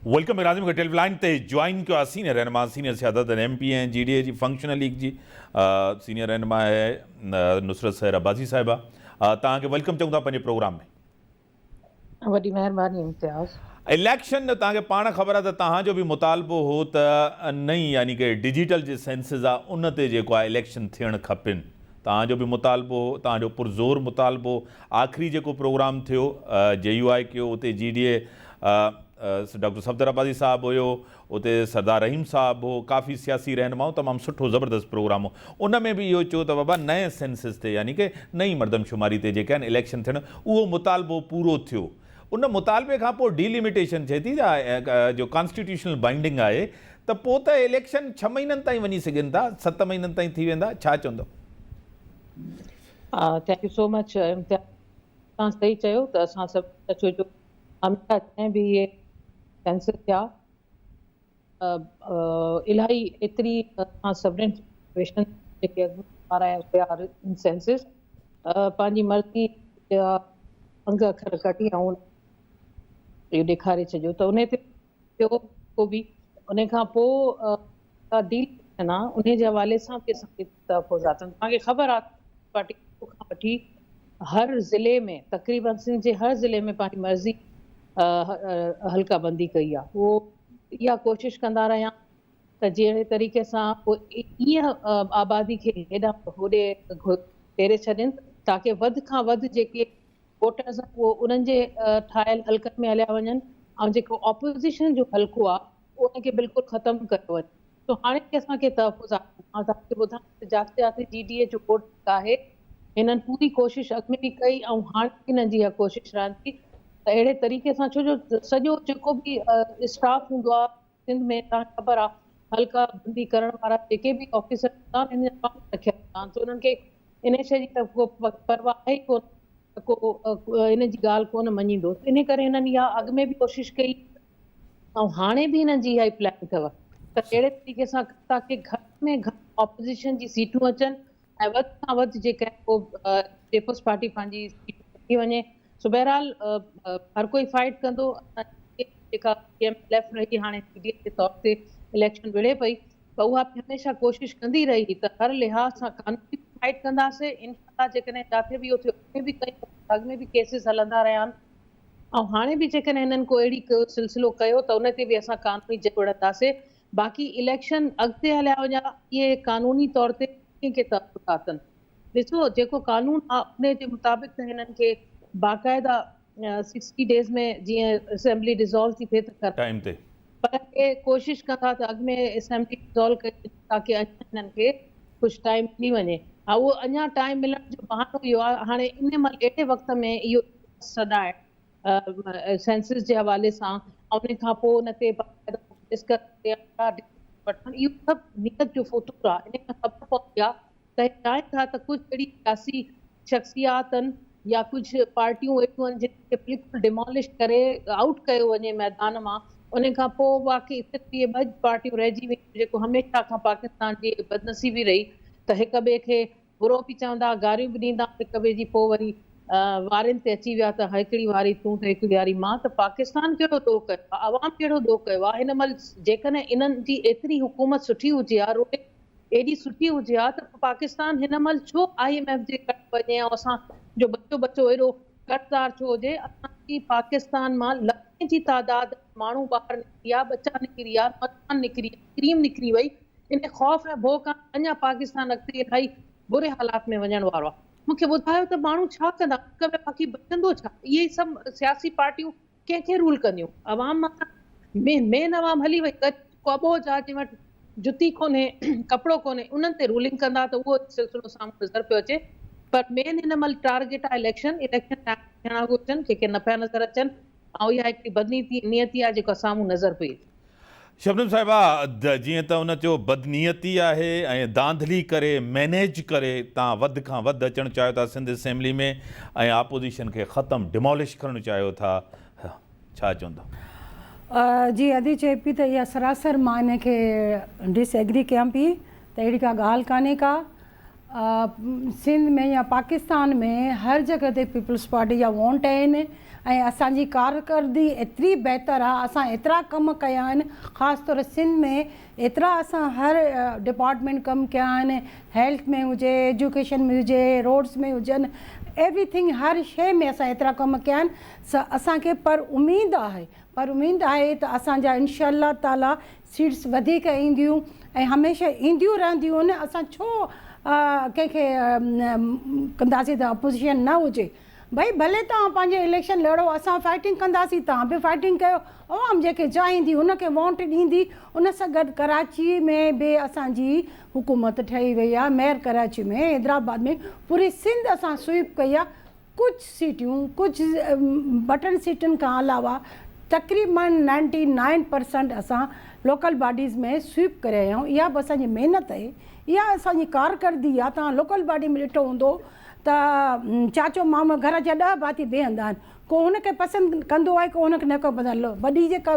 Welcome Azam کي telephone line تي join ڪيو آهي سينيئر رهنما سينيئر سيادت M P A G D A جي فنڪشنل ليگ جي سينيئر رهنما نصرت سهر عباسي صاحبه تان کي ويلڪم چون ٿا پنهنجي پروگرام ۾ وڏي مهرباني امتياز. اليڪشن جو توهان کي پاڻ خبر آهي ته توهان جو به مطالبو هو ته نئين يعني ڪه ڊجيٽل جي سينسز آ ان تي جيڪو آهي اليڪشن ٿيڻ کپين توهان جو به مطالبو هو توهان جو پرزور مطالبو آخري جيڪو پروگرام ٿيو جي يو آء ڪيو اتي جي D A doctor Safdar Abbasi sahib هيو اتي سردار رحيم صاحب هو ڪافي سياسي رهنما هو تمام سٺو زبردست پروگرام هو ان ۾ به اهو چيو ته بابا نئين سينسس تي يعني ڪه نئين مردم شماري تي جيڪي آهن اليڪشن ٿيڻ اهو مطالبو پورو ٿيو ان مطالبي کان پوء ڊي ليميٽيشن ٿئي ٿي جو ڪانسٽيٽيوشنل بائنڊنگ آهي ته پوء ته اليڪشن ڇهه مهينن تائين وڃي سگهن ٿا ست مهينن تائين ٿي ويندا ڇا چوندو thank you so much Imtiaz توهان صحيح چيو ته اسان سڀ هميشه جڏهن به اهي سينسر ٿيا ته الاهي ايتري اسان سڀني رزرويشنز جيڪي اڳ ۾ ٺارايا ويا ان سينسز پنهنجي مرضي جا انگ اکر ڪڍي ۽ اهو ڏيکاري ڇڏيو ته انهي تي ٻيو ڪو به انهي کان پوء جيڪا ڊيل ٿيڻ آ انهي جي حوالي سان به اسان کي ته پوء ذاتن توهان کي خبر آ ته پيپلز پارٽي شروع کان وٺي هر ضلعي ۾ تقريبن سنڌ جي هر ضلعي ۾ پنهنجي مرضي حلقه بندي ڪئي آ هو اها ڪوشش ڪندا رهيا آهن ته جهڙي طريقي سان هو ائين آبادي کي هيڏانهن ته هوڏي ڦيري ڇڏين تاڪه وڌ کان وڌ جيڪي ووٽرز آهن اهي انهن جي ٺاهيل حلقن ۾ هليا وڃن ۽ جيڪو اپوزيشن جو حلقو آ ان کي بلڪل ختم ڪيو وڃي جو هاڻي به اسان کي تحفظ آهي. مان توهان کي ٻڌايان ته جاسياسي جي ڊي اي جو ڪوڊ ڪڪ آهي. هنن پوري ڪوشش اڳ ۾ به ڪئي ۽ هاڻي به هنن جي اها ڪوشش رهندي ته اهڙي طريقي سان ڇو جو سڄو جيڪو به اسٽاف هوندو آهي سنڌ ۾ توهان کي خبر آهي حلقه بندي ڪرڻ وارا جيڪي به آفيسر هوندا آهن هنن جا قانون رکيل هوندا آهن سو هنن کي انهي شيء جي ته ڪو پرواهه آهي ئي ڪونه ته ڪو هنن جي ڳالهه ڪونه مڃيندو انهي ڪري هنن اها اڳ ۾ به ڪوشش ڪئي ۽ هاڻي به هنن جي اها ئي پلان اٿو ته ڪهڙي طريقي سان تاڪي گهٽ ۾ گهٽ اپوزيشن جي سيٽون اچن ۽ وڌ کان وڌ جيڪا پوء پيپلز پارٽي پنهنجي سيٽ وٺي وڃي سو بهرحال هر ڪوئي فائٽ ڪندو جيڪا پي ايم ايل ايف رهي هاڻي پي ڊي ايف جي طور تي اليڪشن وڙهي پئي ته اها به هميشه ڪوشش ڪندي رهي ته هر لحاظ سان قانوني فائٽ ڪنداسي انشاء الله جيڪڏهن جاٿي به اهو ٿيو اڳ ۾ به ڪيسز هلندا رهيا آهن ۽ هاڻي به جيڪڏهن هنن ڪو اهڙي ڪو سلسلو ڪيو ته ان تي به اسان قانوني جهه وڙهنداسي باقي اليڪشن اڳتي هليا وڃا اهي قانوني طور تي ڪنهن کي تحفظ ٿا ڪن ڏسو جيڪو قانون آ انهي جي مطابق ته هنن کي باقاعده سڪسٽي ڊيز ۾ جيئن اسيمبلي ڊسالو ٿي ٿئي ته ڪرڻ گهرجي پر اهي ڪوشش ڪن ٿا ته اڳ ۾ اسيمبلي ڊسالو ڪئي وڃي تاڪه اڃان هنن کي ڪجهه ٽائيم ملي وڃي ها اهو اڃان ٽائيم ملڻ جو بهانو اهو آ هاڻي انهي مهل اهڙي وقت ۾ اهو سڏائڻ سينسس جي حوالي سان ۽ ان کان پوء ان تي باقاعده مجلس ڪرڻ تي آگاهه ڏيڻ وٺڻ اهو سڀ نيت جو فتور آهي ان کان خبر پوندي آهي ته هي چاهين ٿا ته ڪجهه اهڙي سياسي شخصياتن يا ڪجهه پارٽيون اهڙيون آهن جن کي بلڪل ڊيمالش ڪري آئوٽ ڪيو وڃي ميدان مان ان کان پوء باقي صرف اهي ٻه پارٽيون رهجي وينديون جيڪو هميشه کان پاڪستان جي بدنصيبي رهي ته هڪ ٻئي کي برو به چوندا، گاريون به ڏيندا هڪ ٻئي جي پوء وري وارين تي اچي ويا ته هيڪڙي واري تون ته هيڪڙي واري مان ته پاڪستان ڪهڙو ڏوهه ڪيو آهي عوام ڪهڙو ڏوهه ڪيو آهي هن مهل جيڪڏهن انهن جي ايتري حڪومت سٺي هجي ها رولنگ ايڏي سٺي هجي ها ته پاڪستان هن مهل ڇو آئي ايم ايف جي ڪٽ وڃي ۽ اسان جو ٻچو ٻچو ايڏو قرضدار ڇو هجي اسان جي پاڪستان مان لکين جي تعداد ۾ ماڻهو ٻاهر نڪريا ٻچا نڪريا نوجوان نڪريا ڪريم نڪري وئي انهي خوف ۽ ڀو کان اڃا پاڪستان اڳتي الائي بري حالات ۾ وڃڻ وارو آهي. مون کي ٻڌايو ته ماڻهو ڇا ڪندا ملڪ ۾ باقي بچندو ڇا؟ اهي ئي سڀ سياسي پارٽيون ڪنهن کي رول ڪنديون؟ عوام مٿان مين عوام هلي وئي غريب ڪو اٻوجهه آهي جنهن وٽ جتي ڪونهي ڪپڙو ڪونهي انهن تي رولنگ ڪندا ته اهو ئي سلسلو سامهون نظر پيو اچي پر مين هن مهل ٽارگيٽ آهي اليڪشن اليڪشن ٽائيم ٿيڻا گهرجن ڪنهن کي نه پيا نظر اچن ۽ اها هڪڙي بدنيتي آهي جيڪا سامهون نظر پئي ٿي. شبنم صاحبه جيئن ته ان چيو بدنيتي آهي ۽ ڌانڌلي ڪري مينيج ڪري تان وڌ کان وڌ اچڻ چاهيو ٿا سنڌ اسيمبلي ۾ ۽ آپوزيشن کي ختم ڊمالش ڪرڻ چاهيو ٿا ڇا چوندا. جي ادي چئي پي ته اها سراسر مان ان کي ڊس ايگري ڪيان پي ته اهڙي ڪا ڳالهه ڪانهي ڪا. سنڌ ۾ يا پاڪستان ۾ هر جڳهه تي پيپلز پارٽي جا وونٽ آهن ۽ اسان جي ڪارڪردگي ايتري بهتر آهي اسان ايترا ڪم ڪيا آهن خاص طور سنڌ ۾ ايترا اسان هر ڊپارٽمينٽ ڪم ڪيا آهن هيلٿ ۾ هجي ايجوڪيشن ۾ هجي روڊس ۾ هجن ايوري ٿنگ هر شي ۾ اسان ايترا ڪم ڪيا آهن اسان کي پر اميد آهي پر اميد آهي ته اسان جا انشاء الله تعالي سيٽس وڌيڪ اينديون ۽ هميشه اينديون رهنديون اسان ڇو ڪنهن کي ڪنداسين ته اپوزيشن نه هجي ڀئي ڀلي توهان پنهنجي اليڪشن لڙو اسان فائٽنگ ڪنداسين توهان به فائٽنگ ڪيو عوام جيڪي چاهيندي ان کي وونٽ ڏيندي ان سان گڏ ڪراچي ۾ به اسان جي حڪومت ٺهي وئي آهي ميئر ڪراچي ۾ حيدرآباد ۾ پوري سنڌ اسان سوئيپ ڪئي آهي ڪجهه سيٽيون ڪجهه بٽن سيٽن کان علاوه تقريبن نائنٽي نائن پرسنٽ اسان لوڪل باڊيز ۾ سويپ ڪري آيا آهيون اها به اسان جي محنت آهي اها اسان جي ڪارڪردگي آهي توهان لوڪل باڊي ۾ ڏٺو هوندو ته چاچو مامو گهر جا ڏهه ڀاتي بيهندا آهن ڪو هن کي پسند ڪندو آهي ڪو هن کي نه ڪندو وڏي جيڪا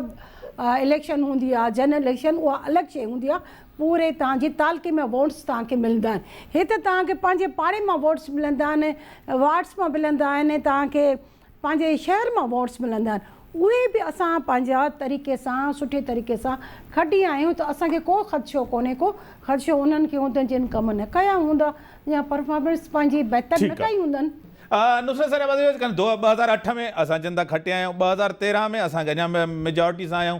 اليڪشن هوندي آهي جنرل اليڪشن اها الڳ شيء هوندي آهي پوري تان جي تعلقي ۾ ووٽس توهان کي ملندا آهن هت توهان کي پنهنجي پاڙي مان ووٽس ملندا آهن وارڊس مان ملندا آهن توهان کي پنهنجي شهر مان ووٽس ملندا آهن اهي به اسان پنهنجا طريقي سان سٺي طريقي سان کٽيا آهيون ته اسان کي ڪو خدشو ڪونهي ڪو خدشو انهن کي هوندو جن ڪم نه ڪيا هوندا يا پرفارمنس پنهنجي بهتر نه ڪئي هوندن. نصرت صاحب عزيز ڪن ڌوء ٻه هزار اٺ ۾ اسان جندا کٽيا آهيون ٻه هزار تيرهن ۾ اسان کي اڃا ميجارٽي سان آهيون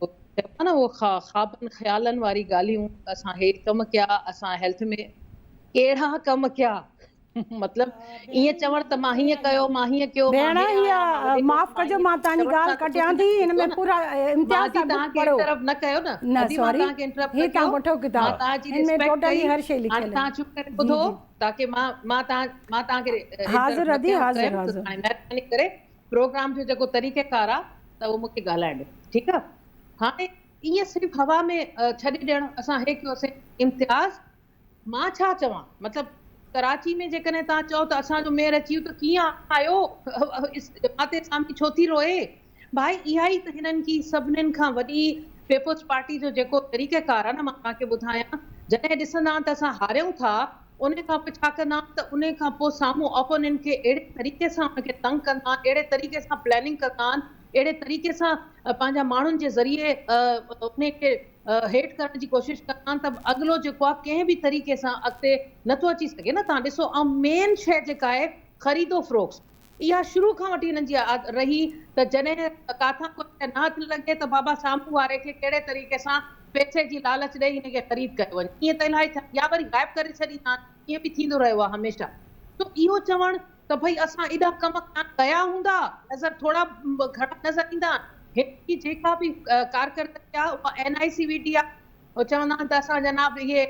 چئبو آهي نه اهو خوابن خيالن واري ڳالهيون اسان هي ڪم ڪيا اسان هيلٿ ۾ ڪهڙا ڪم ڪيا مطلب ائين چوڻ ته مان هيئن ڪيو مان هيئن ڪيو مان هي آهيان مان هو ڪيو معاف ڪجو مان تهانجي ڳالهه ڪٽيان ٿي هن ۾ پورا امتياز صاحب تهان کي انٽرپٽ نه ڪيو نه نه سوري هي تهان وٺو ڪتاب هن ۾ ٽوٽلي هر شي لکيل آهي تهان چپ ڪري ٻڌو تاڪي مان مان تهان مان تهان کي حاضر ادي حاضر حاضر مهرباني ڪري پروگرام جو جيڪو طريقه ڪار آ ته اهو مونکي ڳالهائڻ ڏيو ٺيڪ آ هاڻي ائين صرف هوا ۾ ڇڏي ڏيڻ اسان هي ڪيوسين امتياز مان ڇا چوان مطلب ڪراچي ۾ جيڪڏهن توهان چئو ته اسان جو ميئر اچي ويو ته ڪيئن آيو جماعت اسامي ڇو ٿي روئي ڀائي اها ئي ته هنن ڪي سڀنن کان وڏي پيپلز پارٽي جو جيڪو طريقه ڪار آ نه مان توهان کي ٻڌايان جڏهن ڏسندا آن ته اسان هاريون ٿا انهي کان پوء ڇا ڪندا آهن ته انهي کان پوء سامهون اپوننٽ کي اهڙي طريقي سان ان کي تنگ ڪندا آهن، اهڙي طريقي سان پلاننگ ڪندا آهن، اهڙي طريقي سان پنهنجا ماڻهن جي ذريعي انهي کي هيٺ ڪرڻ جي ڪوشش ڪندا آهن ته اڳلو جيڪو آهي ڪنهن به طريقي سان اڳتي نٿو اچي سگهي نه. توهان ڏسو ۽ مين شيء جيڪا آهي خريد و فروخت. اها شروع کان وٺي هنن جي عادت رهي ته جڏهن ڪاٿان ڪو شيء نه هٿ لڳي ته بابا سامهون واري کي ڪهڙي طريقي سان پئسي جي لالچ ڏئي هن کي خريد ڪيو وڃي ائين ته الاهي ڇا يا وري غائب ڪري ڇڏيندا آهن ائين به ٿيندو رهيو آهي هميشه سو اهو چوڻ ته ڀئي اسان ايڏا ڪم ڪانه ڪيا هوندا نظر ٿورا گهڻا نظر ايندا آهن هن جي جيڪا به ڪارڪردگي آهي اها NICVT آهي. هو چوندا آهن ته اسان جناب اهي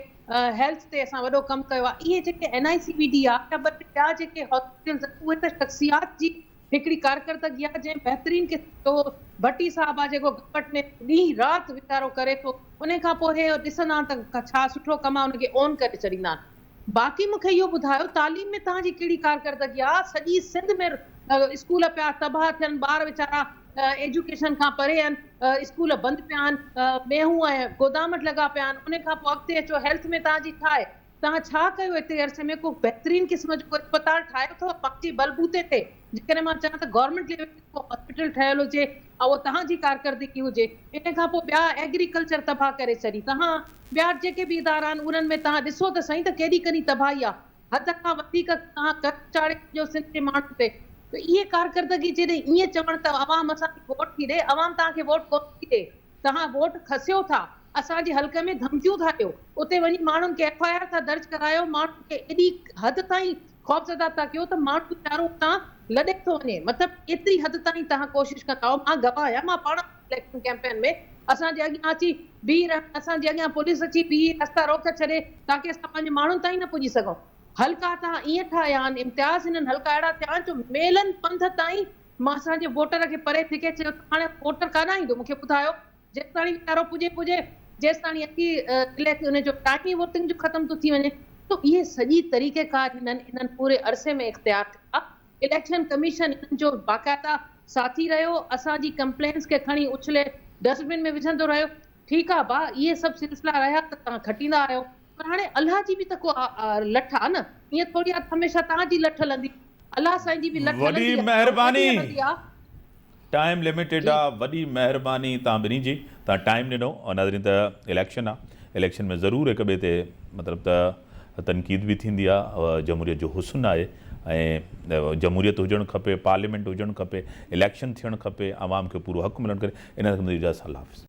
هيلٿ تي اسان وڏو ڪم ڪيو آهي. اهي جيڪي N I C B D آهي يا ٻه ٽي ٻيا جيڪي هاسپيٽلز آهن اهي ته شخصيات جي هڪڙي ڪارڪردگي آهي جنهن بهترين قسم جو اهو ڀٽي صاحب آهي جيڪو گورنمينٽ ۾ ڏينهن رات ويچارو ڪري ٿو انهي کان پوء اهي ڏسندا آهن ته ڇا سٺو ڪم آهي ان کي اون ڪري ڇڏيندا آهن. باقي مون کي اهو ٻڌايو تعليم ۾ توهان جي ڪهڙي ڪارڪردگي آهي سڄي سنڌ ۾ اسڪول پيا تباهه ٿين ٻار ويچارا ايجوڪيشن کان پري آهن. اسڪول بند پيا آهن، مينهون ۽ گودامٽ لڳا پيا آهن، ان کان پوء اڳتي اچو، هيلٿ ۾ توهان جي ڇا آهي؟ توهان ڇا ڪيو ايتري عرصي ۾ ڪو بهترين قسم جو ڪو اسپتال ٺاهيو اٿو پنهنجي بل بوتي تي؟ جيڪڏهن مان چان ته گورنمينٽ ليول تي ڪو هاسپيٽل ٺهيل هجي ۽ اهو توهان جي ڪارڪردگي هجي، ان کان پوء ٻيا ايگريڪلچر تباهه ڪري ڇڏي، توهان ٻيا جيڪي به ادارا آهن انهن ۾ توهان ڏسو ته سائين ته ڪيڏي ڪني تباهي آهي. حد کان وڌيڪ توهان قرض چاڙهي ڇڏيو سنڌ جي ماڻهن تي ته اهي ڪارڪردگي جيڏي ائين چوڻ ته عوام اسان کي ووٽ ٿي ڏي عوام توهان کي ووٽ ڪونه ٿي ڏي توهان ووٽ کسيو ٿا اسان جي حلقي ۾ ڌمڪيون ٿا ڏيو اتي وڃي ماڻهن کي ايف آء آر ٿا درج ڪرايو ماڻهن کي ايڏي حد تائين خوفزده ٿا ڪيو ته ماڻهو ويچارو اتان لڏي ٿو وڃي مطلب ايتري حد تائين توهان ڪوشش ڪندا مان گواهه آهيان مان پاڻ اليڪشن ڪيمپين ۾ اسان جي اڳيان اچي بيهي رهن، اسان جي اڳيان پوليس اچي بيهي رستا روڪ ڇڏي تاڪه اسان پنهنجي ماڻهن تائين نه پڄي سگهون. حلقا ته ائين ٺاهيا آهن امتياز هنن حلقا اهڙا ٺاهيا آهن جو ميلن پنڌ تائين مان اسان جي ووٽر کي پري ڦڪي چيو ته هاڻي ووٽر ڪاڏانهن ايندو مون کي ٻڌايو جيستاڻي ويچارو پڄي پڄي جيستاڻي اچي ڪلهي تي ان جو ٽائيم ئي ووٽنگ جو ختم ٿو ٿي وڃي سو اهي سڄي طريقيڪار هنن انهن پوري عرصي ۾ اختيار ڪيا. اليڪشن ڪميشن انهن جو باقاعده ساٿي رهيو، اسان جي ڪمپلينس کي کڻي اڇلي ڊسٽ بن ۾ وجهندو رهيو. ٺيڪ آ ڀاء اهي سڀ سلسلا رهيا ته توهان کٽيندا آهيو پر هاڻي الله جي به ته ڪو لٺ آ نه ائين ٿوري آ ته هميشه توهان جي لٺ هلندي الله سائين جي به لٺ هلندي آ ۽ هلندي آ. ٽائيم لميٽيڊ جي. آ وڏي مهرباني توهان ٻنهي جي توهان ٽائيم ڏنو ناظرين ته اليڪشن آ اليڪشن ۾ ضرور هڪ ٻئي تي مطلب ته تنقيد به ٿيندي آ جمهوريت جو حسن آهي ۽ جمهوريت هجڻ کپي پارليامينٽ هجڻ کپي اليڪشن ٿيڻ کپي عوام کي پورو حق ملڻ کپي ان کان منهنجي اجازت الله حافظ.